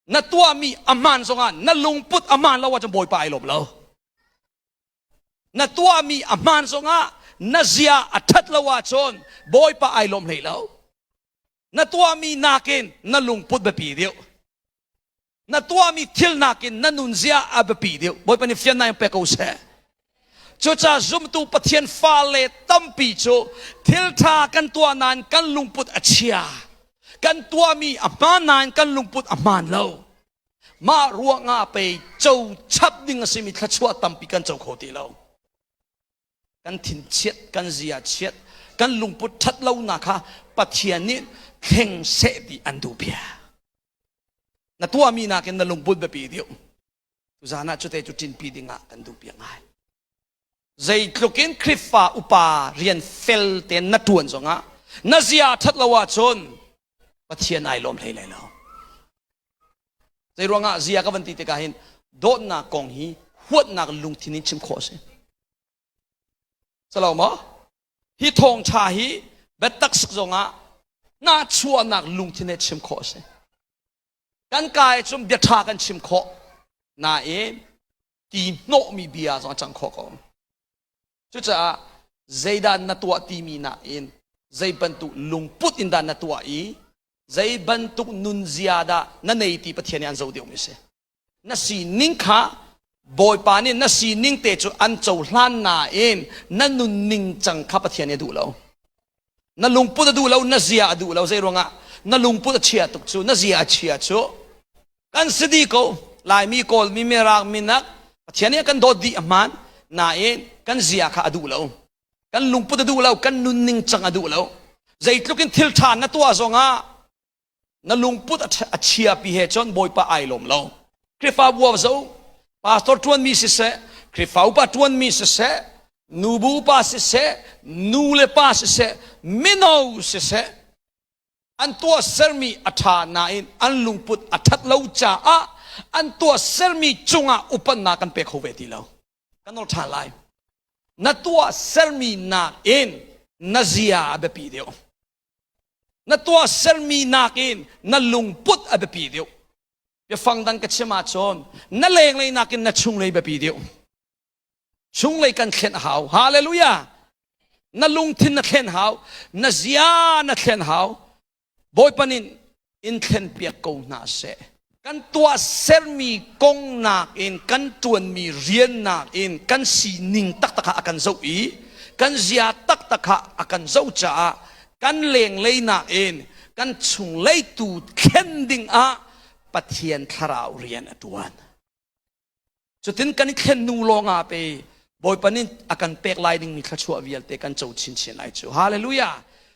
na tuahmi a hmaan zongah na lungput a hmaan lo ahcun bawipa ai lawm lo na tuahmi a hmaan zongah na zia a ṭhat lo ahcun bawipa ai lawm hlei lo na tuahmi nakin na lungput biapi deuh na tuahmi thil nakin na nunzia a biapi deuh bawipa nih fian nai pek ko seh Cucaah zumtu Pathian fale tampi cu thilṭha kan tuah nain kan lungput a chia. Kan tuahmi a hmaan nain kan lungput a hmaan lo. Mah ruangah pei co chap ding a simi thluachuah tampi kan co kho ti lo. Kan thinchiat, kan ziachiat, kan lungput ṭhat lonak kha Pathian nih thleng seh ti an duh bia. Na tuahmi nakin na lungput biapi deuh. Tuzan ah cute cu ṭinpi ding ah kan duhpiak ngai. Zeitluk in Khrihfa upa rian fel tein na ṭuan zongah na zia ṭhat lo ahcun Pathian ai lawm hlei lai lo. Zei ruangah zia ka van ti tikah hin dawtnak kong hi huatnak lungthin in chim khawh a si. Salo maw? Hi thawngṭha hi biatak zongah na chuahnak lungthin he chim khawh a si. kan ka i cun bia ṭha kan chim khawh nain ti hnawhmi bia zong a cang khawh ko cucaah zeidah na tuah timi nakin zei bantuk lungput in dah na tuah i zei bantuk nunzia dah na nei ti Pathian nih an zo deuhmi a si na sining kha Bawipa nih na sining te cu an cohlan nain na nunning cang kha Pathian nih a duh lo. Na lungput a duh lo, na zia a duh lo. Zei ruangah na lungput a chia tuk cu, na zia a chia cu. Kan si dih ko. Laimi, Kawlmi, Mirang, Minak Pathian nih kan dawt dih a hmaan. Nain kan zia kha a duh lo. Kan lungput a duh lo, kan nunning cang a duh lo. Zeitluk in thil ṭha na tuah zongah na lungput a chiapi he cun bawipa ai lawm lo Khrihfabu ah zo pastor ṭuanmi siseh Khrihfa upa ṭuanmi siseh nubu pa siseh nu le pa siseh mino siseh an tuah sermi a ṭha nain an lungput a ṭhat lo caah an tuah sermi cungah upannak kan pe kho ve ti lo kan ol ṭhan lai na tuah sermi nakin na zia a biapi deuh na tuahsermi nakin na lungput a biapi deuh biafang dang ka chim ahcun na lenglei nakin na chunglei biapi deuh chunglei kan thlen a hau hallelujah na lungthin na thlen hau na zia na thlen hau bawipa nin in thlen piak ko hna seh kan tuah sermi kong nakin kan ṭuanmi rian nakin kan sining taktak ah a kan zoh i kan zia taktak ah a kan zoh caah kan lenglei nakin kan chunglei tu thlen ding ah Pathian thlarau rian a ṭuan cutin kan i thlen nu lawngah pe bawipa nih a kan pek lai dingmi thluachuah vialte kan co chinchin lai cu hallelujah